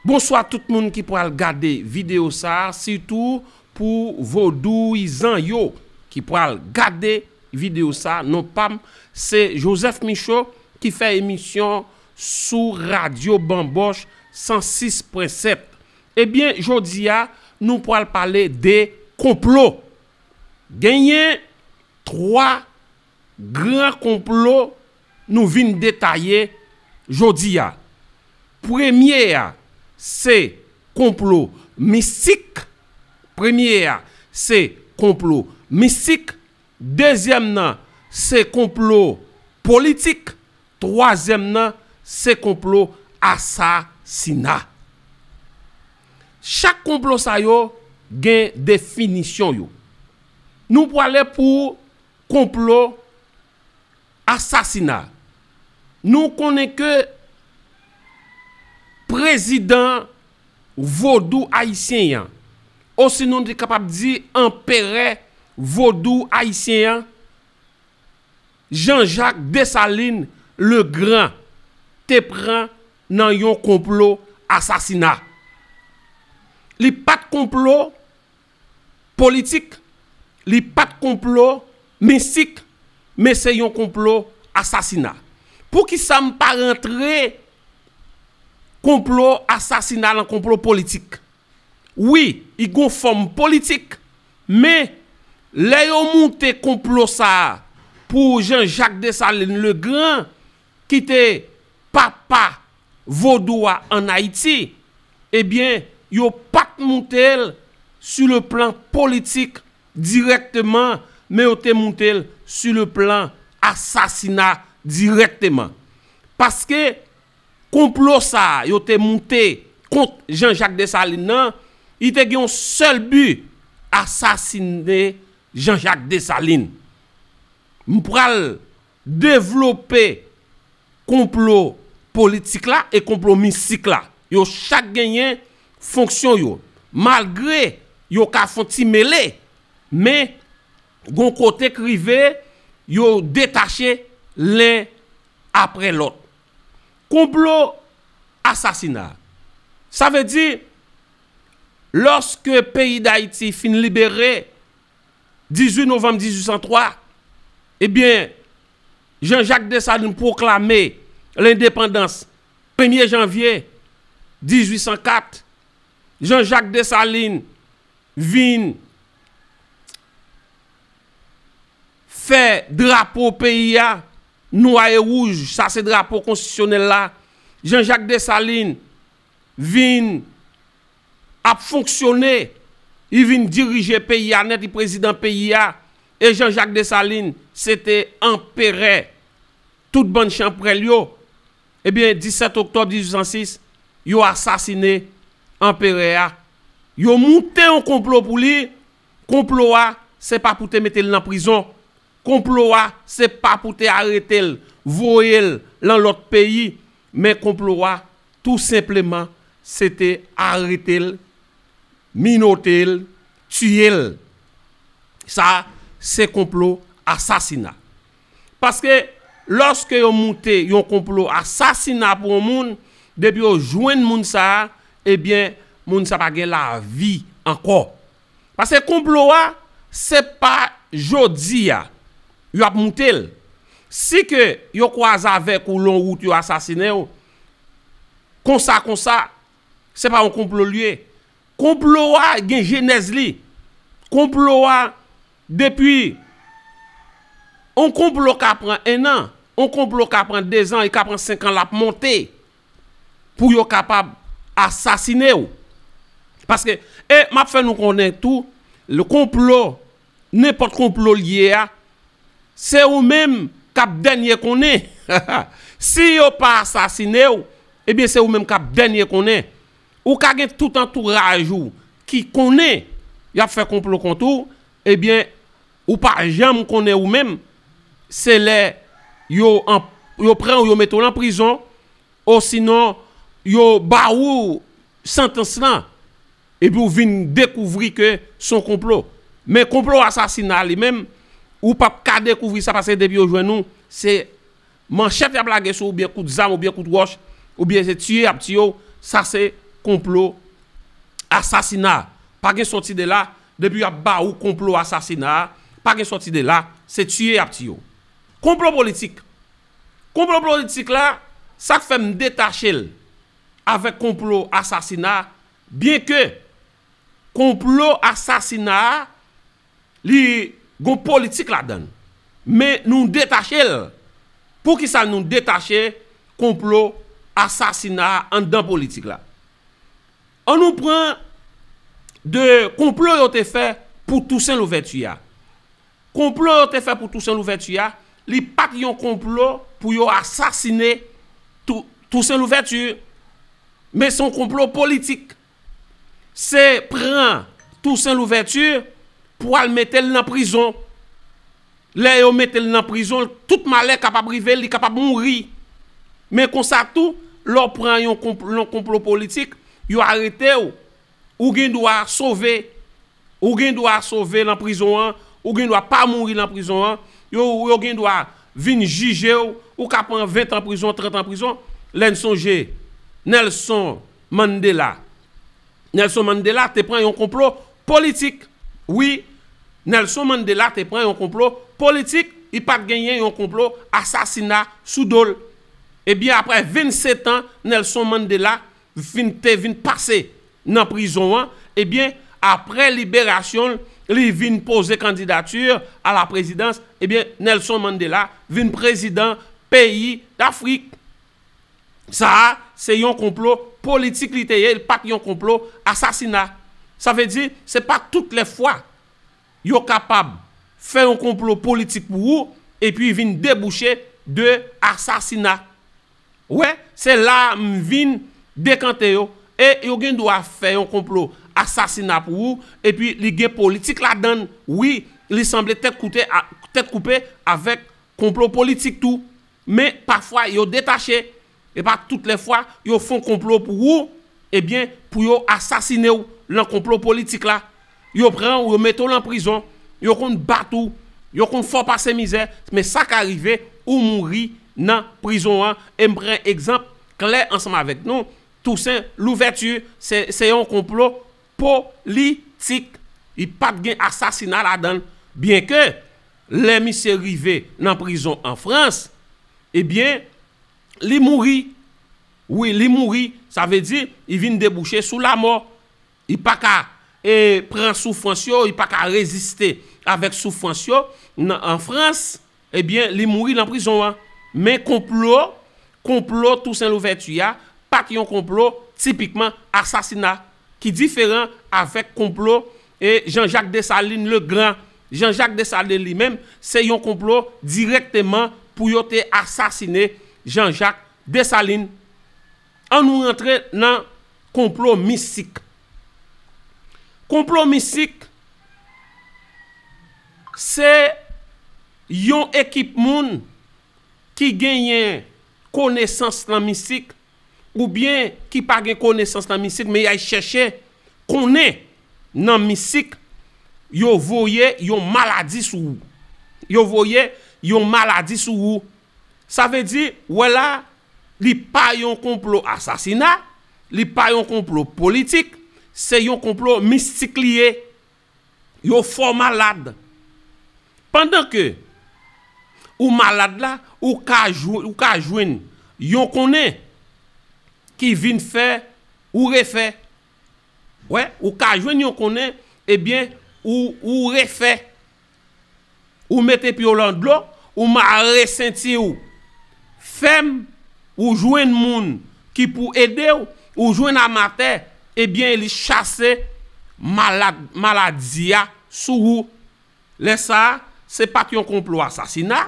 Bonswa tout moun ki pral gade video sa sitou pou vodouizan yo ki pral gade video sa non pam se Joseph Michaud ki fè emisyon sou radio Bamboche 106.7 ebyen jodia nou pral pale de konplo genyen 3 gran konplo nou vin detaye jodi a. Premye a se konplo mistik, premye a se konplo mistik, dezyèm nan se konplo politik, twazyèm nan se konplo asasina. Chak konplo sa yo gen definisyon yo. Nou prale pou konplo asasina nou konnen ke prezidan vodou ayisyen yan osinon nou te kapab di anperè vodou ayisyen yan Janjak Desalin le gran te pran nan yon konplo asasina li pat konplo Politik, li pat konplo mistik men se yon konplo asasina. Poukisa m pa rantre konplo asasina lan konplo politik? Wi, i gon fòm politik men lè yo moute konplo sa pou Jean Jacques Dessalines le grand ki te papa vodou a an Ayiti, ebyen yo pat moute l su le plan politik dirèkteman men yo te moute l su le plan asasina dirèkteman. Paske konplo sa yo te moute kont Jean Jacques Dessalines nan, li te gen yon sèl bi, asasine Jean Jacques Dessalines. M pral. Devlope konplo politik la e konplo mistik la. Yo chak genyen fonksyon yo. Malgre yo ka fon ti mele, men gon kote k rive yo detache len apre lòt. Konplo asasina. Sa vle di, lòske peyi Dayiti fin libere, 18 novanm 1803, ebyen, Jean Jacques Dessalines pwoklame lendepandans premye janvye 1804, Jean Jacques Dessalines vin fè drapo peyi a nwa e wouj, sa se drapo konstitisyonèl la, Jean Jacques Dessalines vin. Ap fonksyone, li vin dirije peyi a nèt li prezidan peyi a, e Jean Jacques Dessalines se te anperè tout bann chanprèl yo, ebyen 17 oktòb 1806 yo asasine anperè a, yo moute yon konplo pou li, konplo a se pa pou te mete l nan prizon, konplo a se pa pou te arete l voye l lan lòt peyi, Men konplo a tou senpleman se te arete l, minote l, tiye l. Sa se konplo asasina. Paske lòske yo moute yon konplo asasina pou yon moun, depi yo jwenn moun sa a, ebyen moun sa pa gen lavi ankò. Paske konplo a se pa jodi a yo ap moute l. Si ke yo kwaze avèk ou lon wout yo asasinen w, konsa konsa, se pa yon konplo l ye. Konplo a gen jenèz li. Konplo a depi yon konplo ka pran ennan, yon konplo ka pran dezan, li ka pran senkan l ap monte. pou yo kapab asasine w. Paske, e m ap fè nou konnen tou, le konplo, nenpòt konplo l ye a, se ou menm k ap dènye konnen. Si yo pa asasine w, ebyen se ou menm k ap dènye konnen. Ou ka gen tout antouraj ou ki konnen y ap fè konplo kont ou, ebyen Ou pa janm konnen ou menm, se lè yo pran ou yo mete w lan prizon, osinon yo ba ou santans lan, epi ou vin dekouvri ke se yon konplo. Men konplo asasina li menm, ou pap ka dekouvri sa paske depi yo jwenn ou, se Manchèt yap lage sou ou byen kout zam ou byen kout wòch ou byen se tiye yap tiye w sa se konplo asasina pa gen sòti de la depi yap ba ou konplo asasina pa gen sòti de la se tiye yap tiye w konplo politik konplo politik la sak fè m detache l avèk konplo asasina byen ke konplo asasina a. li gon politik ladan l. Men nou detache l. Poukisa nou detache konplo asasina a anndan politik la? An nou pran de konplo yo te fè pou Tousen Louvèti a. Konplo yo te fè pou Tousen Louvèti a, li pa t yon konplo pou yo asasine Tousen Louvèti. Men se yon konplo politik. Se pran Toussaint Louverture pou al mete l nan prizon. Lè yo mete l nan prizon, tout malè kapab rive l, li kapab mouri. Men konsa tou, lè w pran yon konplo politik, yo arete w, ou gen dwa sove. Ou gen dwa sove lan prizon an, ou gen dwa pa mouri lan prizon an, yo gen dwa vin jije w, ou ka pran 20 tan prizon, 30 tan prizon, lè n sonje Nelson Mandela. Nelson Mandela te pran yon konplo politik. Wi, Nelson Mandela te pran yon konplo politik, li pa t genyen yon konplo asasina sou do l. Ebyen apre 27 tan Nelson Mandela te vin pase nan prizon an, ebyen aprè liberasyon l, li vin poze kandidati a la prezidans, ebyen Nelson Mandela vin prezidan peyi Dafrik. Sa a se yon konplo politik li te ye, li pa t yon konplo asasina. Sa vle di, se pa tout lè fwa yo kapab fè yon konplo politik pou ou epi vin debouche de asasina. Wè, se la a m vin dekante yo, e yo gen dwa fè yon konplo asasina pou ou, epi li gen politik ladan l, wi, li sanble tèt koute, tèt koupe avèk konplo politik tou. Men, pafwa yo detache, e pa tout lè fwa, yo fon konplo pou ou, ebyen, pou yo asasine w lan konplo politik la. Yo pran ou, yo mete ou lan prizon, yo konn bat ou, yo konn fè w pase mizè, men sa ka rive ou mouri nan prizon an e m pran egzanp klè ansanm avèk nou Toussaint Louverture se yon konplo politik li pat gen asasina ladan l byen ke lè misye rive nan prizon an Frans ebyen li mouri wi li mouri sa vle di li vin debouche sou lamò. Li pa ka pran soufrans yo, li pa ka reziste avèk soufrans yo an Frans, ebyen li mouri nan prizon an. Men konplo, konplo Tousen Louvèti a, pa t yon konplo tipikman asasina, ki diferan avèk konplo Jan Jak Desalin Legran. Jan Jak Desalin li menm, se yon konplo dirèkteman pou yo te asasine Jan Jak Desalin. An nou rantre nan konplo mistik. Konplo mistik se yon ekip moun ki genyen konesans nan mistik ou byen ki pa gen konesans nan mistik men yay chèche konnen nan mistik yo voye yon maladi sou ou. Yo voye yon maladi sou ou. Sa vle di, wè la, li pa yon konplo asasina, li pa yon konplo politik, se yon konplo mistik li ye. Yo fè w malad. Pandan ke ou malad la, ou ka jwenn yon konnen ki vin fè ou refè. Wè, ou ka jwenn yon konnen, ebyen, ou refè. Ou mete pye w lan dlo, ou mare senti w fèm, ou jwenn moun ki pou ede w, ou jwenn amatè, ebyen li chase maladi a sou ou. Lè sa a, se pa t yon konplo asasina,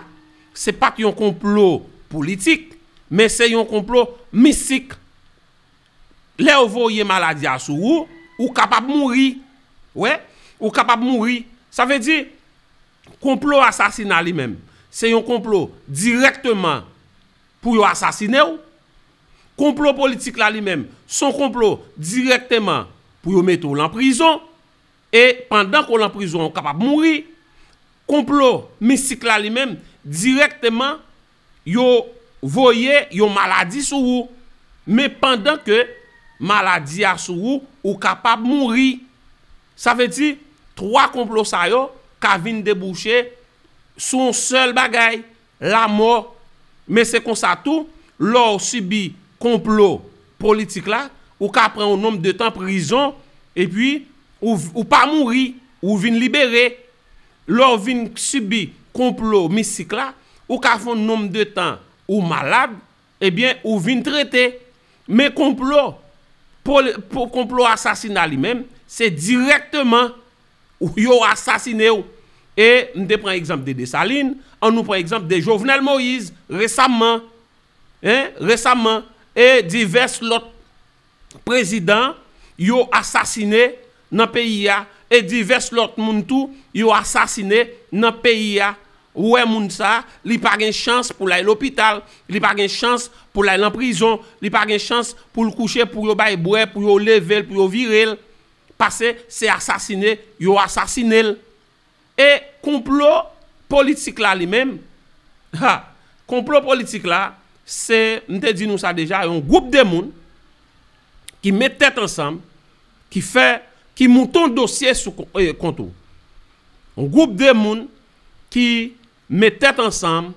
se pa t yon konplo politik, men se yon konplo mistik. Lè yo voye maladi a sou ou, ou kapab mouri. Wè, ou kapab mouri. Sa vle di, konplo asasina li menm, se yon konplo dirèkteman pou yo asasine ou. Konplo politik la li menm, se yon konplo dirèkteman pou yo mete ou lan prizon. E pandan ke w lan prizon an, ou kapab mouri. Konplo mistik la li menm, dirèkteman, Yo voye yon maladi sou ou. Men pandan ke maladi a sou ou, ou kapab mouri. Sa vle di, 3 konplo sa yo ka vin debouche sou yon sèl bagay, lamò. Men se konsa tou, lè w sibi konplo politik la, ou ka pran yon nonb de tan prizon, epi ou pa mouri, ou vin libere. Lè w vin sibi konplo mistik la, ou ka fè yon nonm de tan ou malad, ebyen ou vin trete. Men konplo, konplo asasina li menm, se dirèkteman yo asasine w. E m te pran egzanp de Desalin, an nou pran egzanp de Jovenel Moïse resamman, resamman, e divès lòt prezidan yo asasine nan peyi a e divès lòt moun tou yo asasine nan peyi a wè moun sa li pa gen chans pou lay lopital li pa gen chans pou lay lan prizon li pa gen chans pou l kouche pou yo bay bwè pou yo leve l pou yo vire l pase se asasine yo asasine l E konplo politik la li menm? Ha! Konplo politik la, se, m te di nou sa deja, yon gwoup de moun ki met tèt ansanm, ki fè, ki mouton dosye sou kont ou. Yon gwoup de moun ki met tèt ansanm,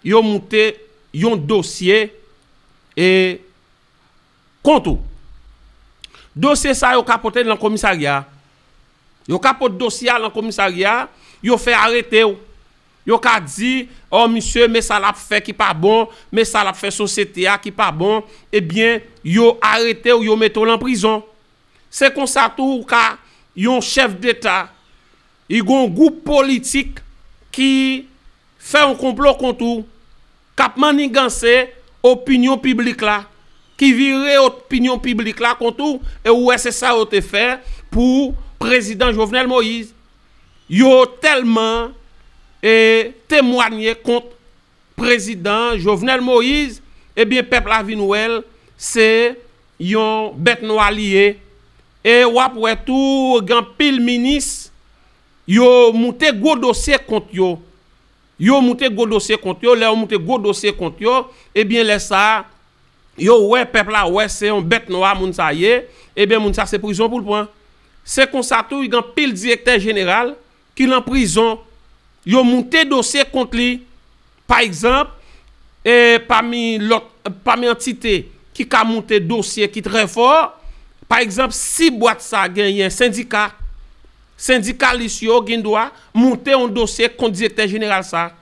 yo moute yon dosye e. Kont ou. Dosye sa yo ka pote l nan komisarya a. Yo ka pot dosye a lan komisarya a, yo fè arete w. Yo ka di, ò misye men sa l ap fè ki pa bon, men sa l ap fè sosyete a ki pa bon, ebyen yo arete w, yo mete w lan prizon. Se konsa tou ou ka yon chèf deta, y gon gwoup politik ki fè yon konplo kont ou. K ap manniganse opinyon piblik la, ki vire opinyon piblik la kont ou, e ou wè se sa yo te fè pou Prezidan Jovenel Moïse. Yo tèlman temwanye kont Prezidan Jovenel Moïse, ebyen pèp la vin wè l se yon bèt nwa li ye. E w ap wè tou gen anpil minis yo moute gwo dosye kont yo. Yo moute gwo dosye kont yo, lè yo moute gwo dosye kont yo, ebyen lè sa, yo wè, pèp la wè se yon bèt nwa moun sa ye, ebyen moun sa se prizon pou l pran. Se konsa tou y gen anpil direktè jeneral ki lan prizon, yo moute dosye kont li. Pa egzanp, e pami lòt, pami antite ki ka moute dosye ki trè fò, pa egzanp si bwat sa genyen sendika, Sendikalis yo gen dwa moute yon dosye kont direktè jeneral sa a.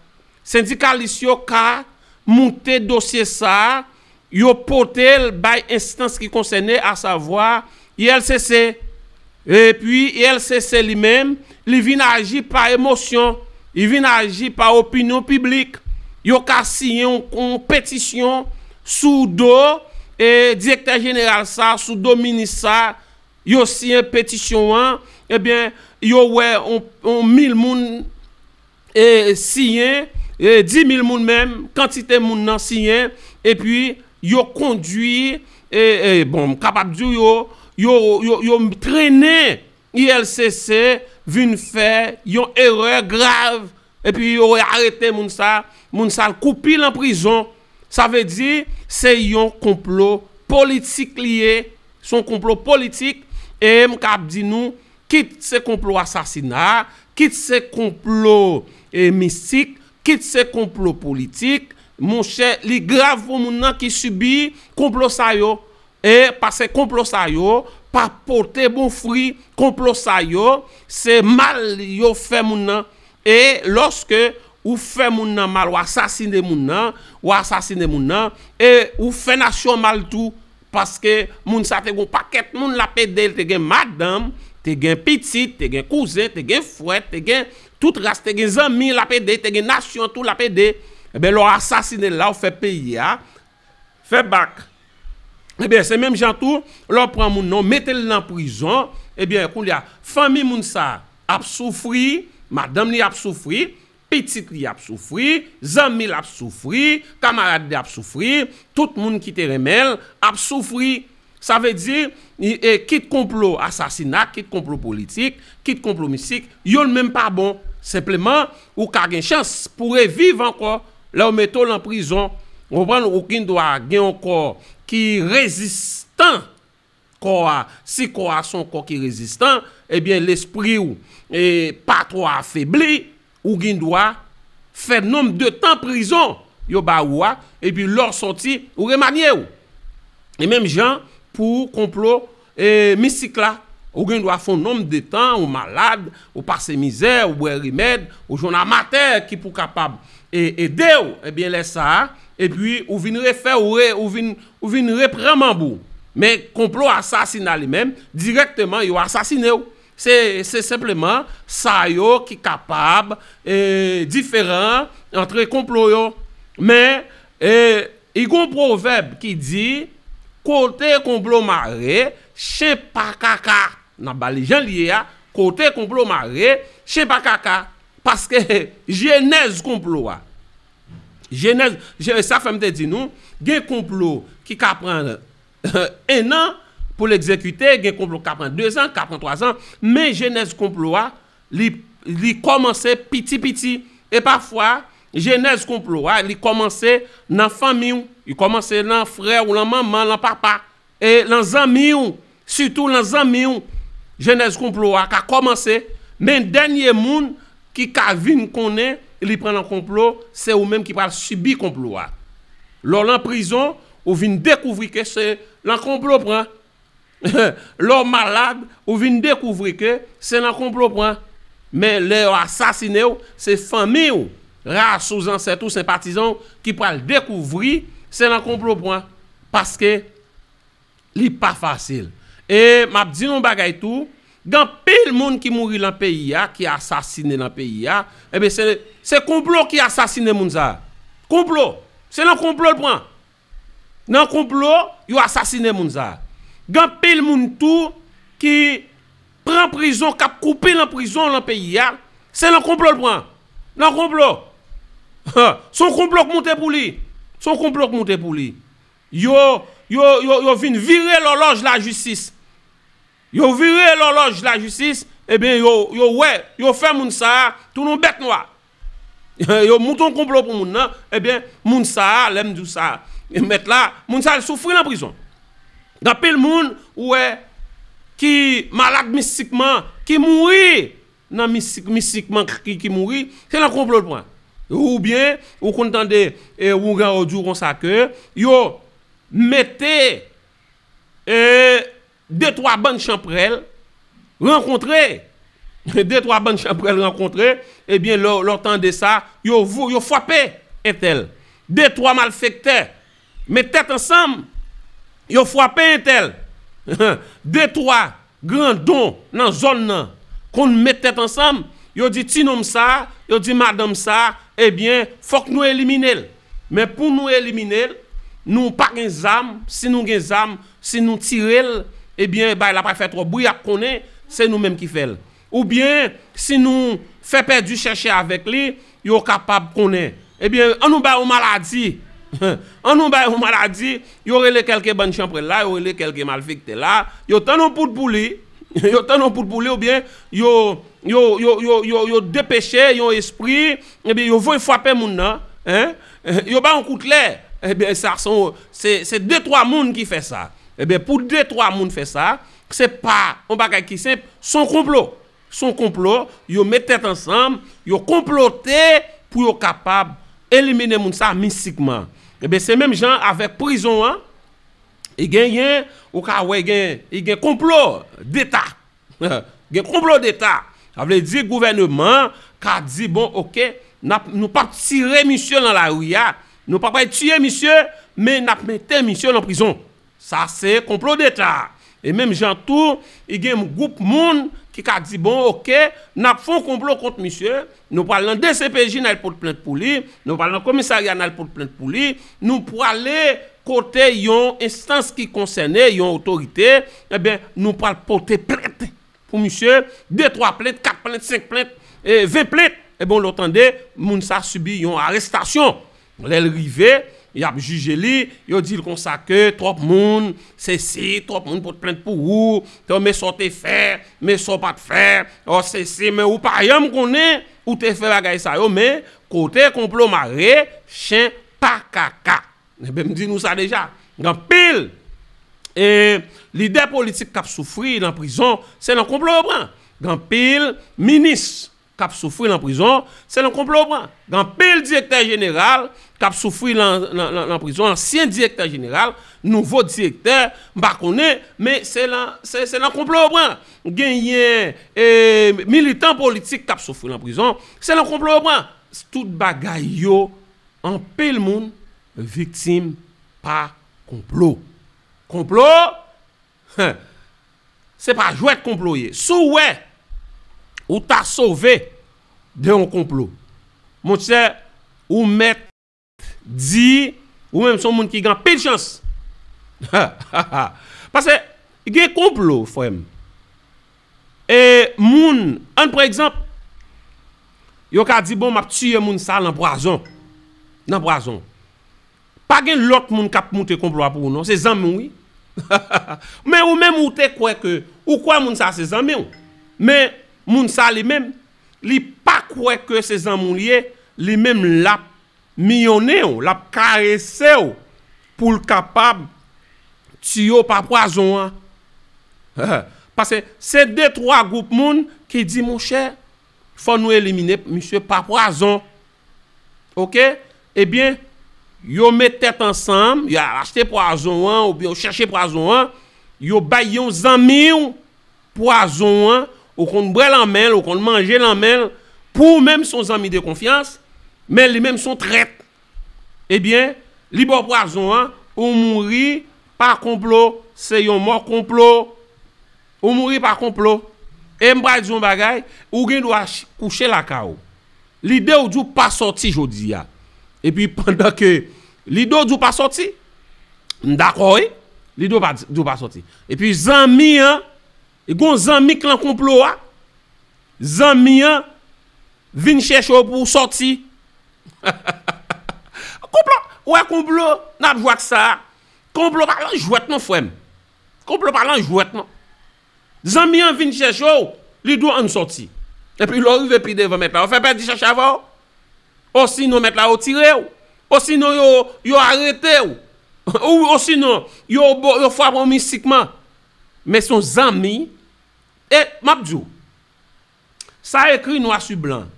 Sendikalis yo ka moute dosye sa a, yo pote l bay enstans ki konsène, asavwa, ULCC. Epi, ULCC li menm, li vin aji pa emosyon, li vin aji pa opinyon piblik. Yo ka siyen yon petisyon sou do direktè jeneral sa a, sou do minis sa a, Yo siyen petisyon an, ebyen yo wè yon mil moun siyen, di mil moun menm, kantite moun nan siyen, epi yo kondwi, bon m kapab di w yo, yo trennen ULCC vin fè yon erè grav Epi yo arete moun sa, moun sa al koupi lan prizon, sa vle di se yon konplo politik li ye, se yon konplo politik, e m ka ap di nou kit se konplo asasina, kit se konplo mistik, kit se konplo politik, monchè li grav pou moun nan ki sibi konplo sa yo. E pase konplo sa yo pa pote bon fri konplo sa yo se mal yo fè moun nan e loske ou fè moun nan mal wa sasine moun nan wa asasine moun nan e ou fè nasyon mal tou paske moun sa te gon pakèt moun lap ede te gen madanm te gen pitit te gen kouzen te gen frè te gen tout ras te gen zanmi lap ede te gen nasyon tou lap ede e ben lò asasine la ou fè peyi a Fè bak. Ebyen se menm jan tou lè w pran moun nan w mete l nan prizon ebyen kounye a fanmi moun sa ap soufri, madanm li ap soufri, pitit li ap soufri, zanmi l ap soufri, kamarad li ap soufri, tout moun ki te renmen l ap soufri. Sa vle di, kit konplo asasina, kit konplo politik, kit konplo mistik, youn menm pa bon. Senpleman, ou ka gen chans pou w reviv ankò lè yo mete w lan prizon. Ou konprann? Ou gen dwa gen yon kò ki rezistan. Kò a, si kò a se yon kò ki rezistan, ebyen lespri w pa twò afebli. Ou gin dwa Fè nom de tan prizon yo ba ou a epi lè w sòti ou remanye w. E menm jan pou konplo e mistik la ou gin dwa fon nom de tan ou malad ou pase mizè ou bwè remèd ou jwenn amatè ki pou kapab e ede w ebyen lè sa a epi ou vin refè ou re ou vin ou vin repran manb ou men konplo asasina li menm dirèkteman yo asasine w. Se senpleman sa yo ki kapab diferan antre konplo yo. Men, i gon pwovèb ki di, kote konplo mare, chen pa kaka. N ap ba li jan l ye a, kote konplo mare, chen pa kaka. Paske jenèz konplo a, jenèz, sa fè m te di nou, gen konplo ki ka pran Ennan pou l egzekite, gen konplo k ka pran dezan, k ka pran twazan, men jenèz konplo a, li, li kòmanse piti piti. E pafwa, jenèz konplo a, li kòmanse nan fanmi w, li kòmanse lan frè w, lan manman, lan papa, e lan zanmi w, sitou lan zanmi w, jenèz konplo a ka kòmanse, men dènye moun ki ka vin konnen li pran lan konplo, se ou menm ki pral sibi konplo a. Lè w lan prizon. Ou vin dekouvri ke se lan konplo pran lè w malad ou vin dekouvri ke se lan konplo pran men lè yo asasine w se fanmi w ras ou zansèt ou senpatizan w ki pral dekouvri se lan konplo pran paske Li pa fasil. E m ap di nou yon bagay tou, gen anpil moun ki mouri lan peyi a, ki asasine lan peyi a, enben se, se konplo ki asasine moun sa a. Konplo! Se lan konplo l pran. Lan konplo, yo asasine moun sa a. Gen anpil moun tou, ki pran prizon, k ap koupe lan prizon lan peyi a, se lan konplo l pran. Lan konplo. Han! Se yon konplo k moute pou li. Se yon konplo k moute pou li. Yo, yo, yo, yo vin vire lòlòj lajistis. Yo vire lòlòj lajistis, eben yo, yo wè, yo fè moun sa a tou nou bèt nwa. Yo moute yon konplo pou moun nan, eben moun sa a, lè m di w sa, mèt la, moun sa a al soufri nan prizon. Gen anpil moun ou wè ki malad mistikman, ki mouri nan misik misik mankrki ki mouri se nan konplo l pran ou byen ou konn tande wougaro di w konsa ke yo mete de twa bann chanprèl rankontre de twa bann chanprèl rankontre ebyen lè w tande sa yo frape entèl de twa malfektè Met tèt ansanm, yo fwape entèl. De twa gran don nan zòn nan konn met tèt ansanm, yo di ti nonm sa, yo di madanm sa, ebyen fòk nou elimine l. Men pou nou elimine l, nou pa gen zam, si nou gen zam, si nou tire l, ebyen bagay la pa fè twòp bri, y ap konnen se nou menm ki fè l. Oubyen, si nou fè pèdi chèche avèk li, yo kapab konnen. Ebyen, an nou bay yon maladi, an nou bay yon maladi, yo rele kèlke bann chanprèl la, yo rele kèlke malfèktè la, yo tann yon poud pou li, yo tann yon poud pou li oubyen yo, yo, yo, yo, yo, yo depeche yon espri, ebyen yo voye fwape moun nan, hein, yo bay yon kout lè, ebyen sa son, se, se de twa moun ki fè sa. Ebyen pou de twa moun fè sa, Se pa yon bagay ki senp, se yon konplo. Se yon konplo, yo met tèt ansanm, yo konplote pou yo kapab elimine moun sa mistikman. Enben se menm jan avèk prizon an, genyen, ou ka wè gen, gen konplo deta. Gen konplo deta. Sa vle di gouvèneman an ka di bon ok, n ap, nou pa p tire misye nan lari a, nou pa pral tiye misye, men n ap mete misye nan prizon. Sa se konplo deta. E menm jan tou, i gen m gwoup moun ki ka di bon ok, n ap fon konplo kont misye, nou pral nan dcpj n al pot plent pou li, nou pral nan komisarya n al pot plent pou li, nou prale kote yon enstans ki konsène, yon otorite, enben nou pral pote plent pou misye, de twa plent, kat plent, senk plent, ven plent, enben w lo tande moun sa sibi yon arestasyon. Lè l rive, y ap jije li, yo di l konsa ke twòp moun, sesi, twòp moun pot plent pou ou, ke men sa w te fè, men sa w pa t fè, ò sesi, men ou pa janm konnen ou te fè bagay sa yo, men kote konplo mare, chen pa kaka. Enben m di nou sa deja, gen anpil lidè politik k ap soufri nan prizon, se nan konplo yo pran. Gen anpil minis kap soufri lan prizon se lan konplo ou pran gen anpil direktè jeneral kap soufri lan prizon ansyen direktè jeneral nouvo direktè m pa konnen men se lan se lan konplo ou pran genyen ee militan politik kap soufri lan prizon se lan konplo ou pran tout bagay yo anpil moun viktim pa konplo konplo Huh! Se pa jwèt konplo ye. Si w wè ou ta sove de yon konplo, monchè, ou mèt di ou menm se yon moun ki gen anpil chans. Ha! Ha! Ha! Pase gen konplo, frè m. E moun, ann pran egzanp, yo ka di bon m ap tiye moun sa a nan pwazon. Nan pwazon. Pa gen lòt moun kap moute konplo a pou ou non, se zanmi w wi. Men ou menm ou te kwè ke, ou kwè moun sa se zanmi w. Men moun sa li menm, li pa kwè ke se zanmi w li ye, li menm lap miyonnen w, lap karese w pou l kapab tiye w pa pwazon an. Pase se de twa gwoup moun ki di monchè, Fò nou elimine misye pa pwazon ok ebyen yo met tèt ansanm yo al achte pwazon an oubyen yo chèche pwazon an yo bay yon zanmiw pwazon an ou konn bwè lan menl ou konn manje lan menl pou ou menm son zanmi de konfyans men li menm son trèt ebyen li baw pwazon an ou mouri pa konplo se yon mò konplo Ou mouri pa konplo. E m pral di w yon bagay, ou gen dwa kouche lakay ou. Lide ou di w pa sòti jodi a. E pi pandan ke lide ou di w pa sòti, m dakò wi. Lide ou di w pa sòti. E pi zanmi an, gon zanmi k lan konplo a. Zanmi an vin chèche w pou w sòti. Konplo, ou wè konplo, n ap jwe ak sa a. Konplo pa yon jwèt non frè m. Konplo pa lan jwèt non. Zanmi an vin chèche w, li di w ann sòti. Epi lè w rive pi devan mèt la yo fè pèdi chèche avè w. Osinon mèt la yo tire w. Osinon yo arete w. Osinon yo fwape w mistikman. Men se yon zanmi. E m ap di w, Sa ekri nwa su blan.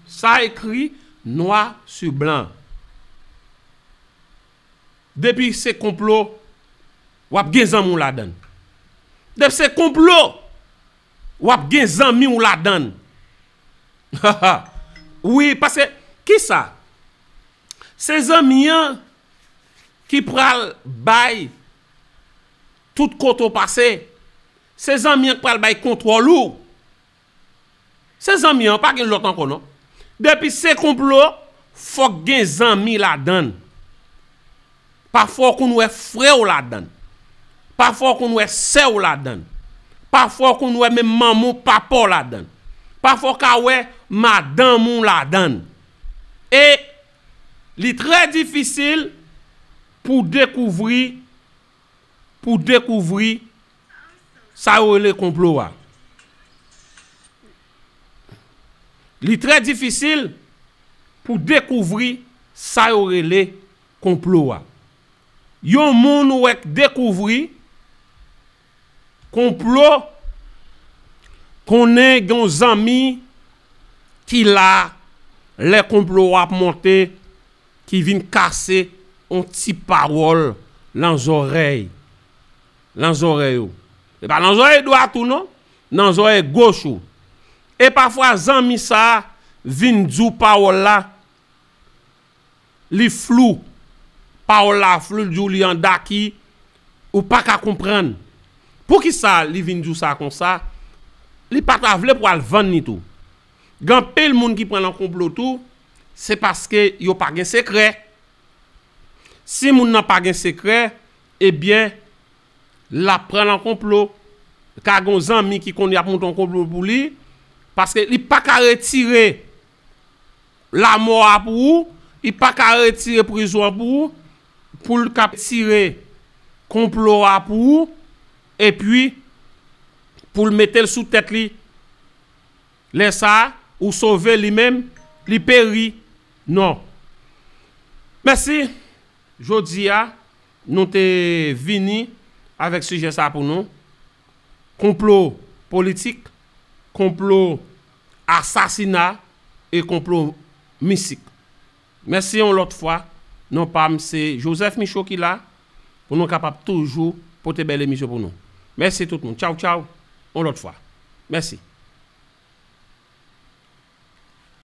Sa ekri nwa su blan. Depi se konplo, w ap gen zanmi w ladan l. Depi se konplo, w ap gen zanmi w ladan l. Ha ha! Wi, paske, ki sa? Se zanmi an ki pral bay. Tout kote w pase, se zanmi an k pral bay kontwòl ou. Se zanmi an, pa gen lòt ankò non. Depi se konplo, fòk gen zanmi ladan l. Pafwa w konn wè frè w ladan l. Pafwa w konn wè sè w ladan l. Pafwa w konn wè menm manman w, papa w ladan l. Pafwa w ka wè madanm ou ladan l. E li trè difisil pou w dekouvri pou dekouvri sa yo rele konplo a. Li trè difisil pou dekouvri sa yo rele konplo a. Yon moun ou wè k dekouvri konplo konnen gen yon zanmi ki la lè konplo a ap monte. Ki vin kase on ti pawòl lan zòrèy, lan zòrèy ou. Se pa lan zòrèy dwat ou non, nan zòrèy goch ou. E pafwa zanmi sa a vin di w pawòl la, li flou, pawòl la flou, li di w li an daki, ou pa ka konprann. Poukisa li vin di w sa konsa? Li pa ta vle pou al vann li tou. Gen anpil moun ki pran lan konplo tou, se paske yo pa gen sekrè. Si moun nan pa gen sekrè, ebyen lap pran lan konplo. Ka gen yon zanmi ki konn yap monte yon konplo pou li, paske li pa ka retire lamò a pou ou, li pa ka retire prizon an pou ou, poul ka tire konplo a pou ou, epi poul metel sou tèt li. Lè sa a, ou sove, li menm, li peri. Non. Mèsi. Jodi a, nou te vini avèk sijè sa a pou nou. Konplo politik, konplo asasina e konplo mistik. Mèsi yon lòt fwa, non pam se Joseph Michaud ki la pou nou kapab toujou pote bèl emisyon pou nou. Mèsi tout moun. Tchaw tchaw yon lòt fwa. Mèsi.